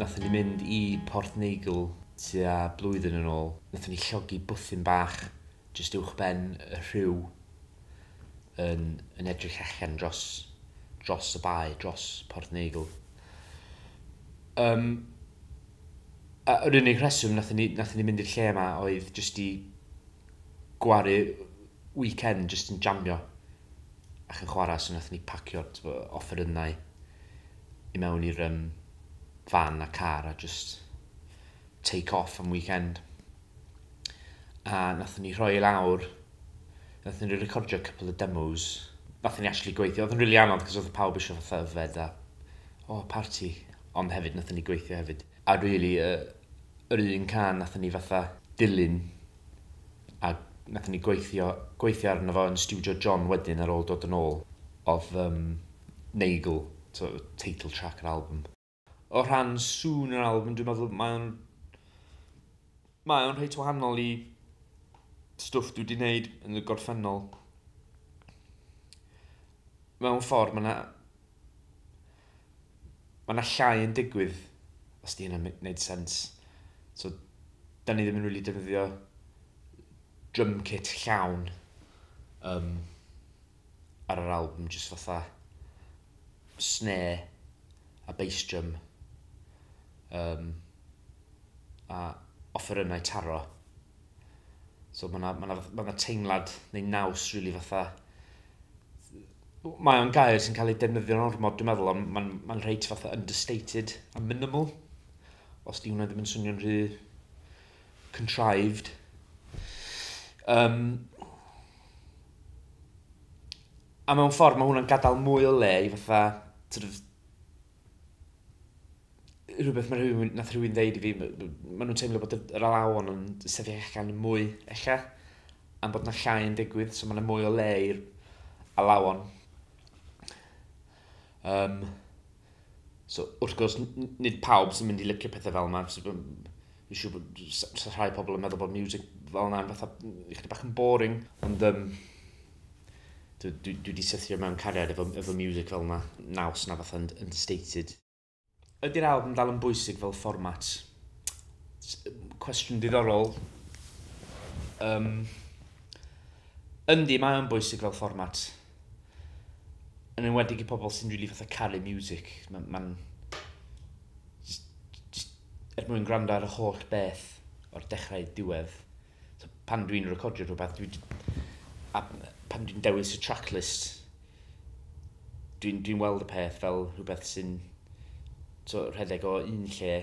Nathon ni mynd i Porthnagle tua blwyddyn yn ôl. Nathon ni llogi bwthyn bach jyst uwchben y rhiw yn yn edrych allan dros dros y bae, dros Porthnagle. Yym a yr unig rheswm nathon ni nathon ni mynd i'r lle 'ma oedd jyst i gwaru weekend jyst yn jamio ac yn chwarae, so wnaethon ni pacio tibod, offerynnau i mewn i'r um, fan a car a just take off am weekend. A wnaethon ni rhoi lawr, wnaethon ni recordio couple of demos, wnaethon ni actually gweithio, oedd yn rili really anodd cos oedd pawb eisiau fatha yfed a o, oh, party, ond hefyd wnaethon ni gweithio hefyd. A rili, really, yr un can wnaethon ni fatha dilyn a nathon ni gweithio gweithio arno fo yn stiwdio John wedyn ar ôl dod yn ôl odd um, Nagel, so, title track yr album. O rhan sŵn yr album, dwi'n meddwl mae o'n mae o'n rheit wahanol i stwff dwi wedi gwneud yn y gorffennol. Mewn ffordd, mae yna Mae yna llai yn digwydd, os di hynna'n gwneud sens. So, da ni ddim yn really defnyddio drum kit llawn um, ar yr album, jyst fatha snare a bass drum um, a offerynnau taro. So mae yna ma ma teimlad neu naws really fatha Mae o'n gair sy'n cael ei defnyddio'n ormod, dwi'n meddwl, ond mae'n ma reit fatha understated a minimal, os di hwnna ddim yn swnio'n rhy contrived. Um, a mewn ffordd mae hwnna'n gadael mwy o le i fatha, sort of, rhywbeth mae rhywun, nath rhywun ddeud i fi, maen nhw'n teimlo bod yr alawon yn sefyll allan yn mwy, ella, am bod yna llai yn digwydd, so mae yna mwy o le i'r alawon. Um, so, wrth gwrs, nid pawb sy'n mynd i licio pethau fel yma, so, fi'n siŵr bod so, rhai pobl yn meddwl bod music fel yna yn fatha, ychydig bach yn boring, ond um, dwi, dwi, dwi wedi sythio mewn cariad efo, efo music fel yna, naws na fatha yn, yn stated. Ydy'r albwm dal yn bwysig fel fformat? Cwestiwn diddorol. Um, yndi, mae'n bwysig fel fformat. Yn enwedig i pobl sy'n rili really fatha caru music. Mae'n... Ma er mwyn gwrando ar y holl beth o'r dechrau diwedd. So, pan dwi'n recordio rhywbeth, dwi, a pan dwi'n dewis y tracklist, dwi'n dwi weld y peth fel rhywbeth sy'n so, rhedeg o un lle,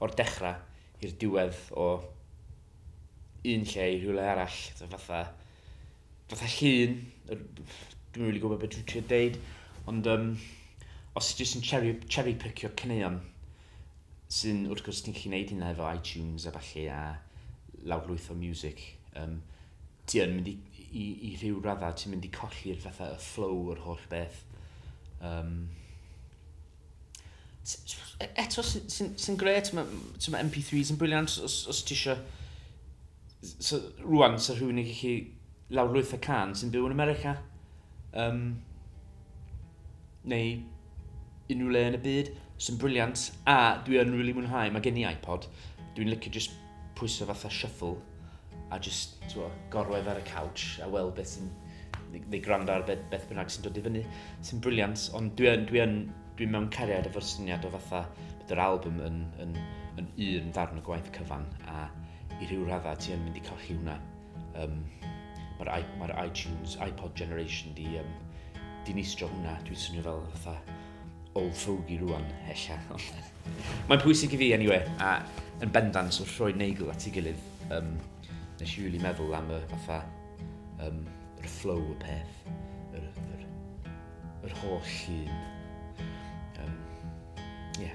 o'r dechrau i'r diwedd o un lle i rhywle arall, so, fatha, fatha llun, dwi'n really gwybod beth dwi'n trio deud, ond um, os jyst yn cherry, cherry picio cyneuon, Sy'n wrth gwrs ti'n gallu neud hynna efo iTunes a ballu a lawrlwytho music. Um, ti yn mynd i, i, i rhyw raddau, ti'n mynd i colli'r fatha y flow o'r holl beth. Um, e, eto sy'n sy, sy, sy gret, mae ma MP3s yn briliant os, os ti eisiau... So, rwan, so rhywun yn gallu lawrlwytho can sy'n byw yn America. Um, neu unrhyw le yn y byd, sy'n briliant, a dwi yn really mwynhau, mae gen i iPod, dwi'n licio just pwyso fatha shuffle, a just twa, gorwedd ar y couch, a weld beth sy'n, neu gwrando ar beth, beth bynnag sy'n dod i fyny, sy'n briliant, ond dwi yn, dwi yn, dwi'n mewn cariad efo'r syniad o fatha bod yr album yn, yn, yn un ddarn o gwaith cyfan, a i rhyw raddau ti yn mynd i colli hwnna. Um, Mae'r mae iTunes, iPod Generation di um, dinistrio hwnna. Dwi'n swnio fel fatha old fogey rwan, ella. Mae'n pwysig i fi, anyway, a yn bendant wrth roi neigl at ei gilydd, um, nes i really meddwl am y fatha, um, yr flow y peth, yr, yr, yr holl llun. Um, yeah.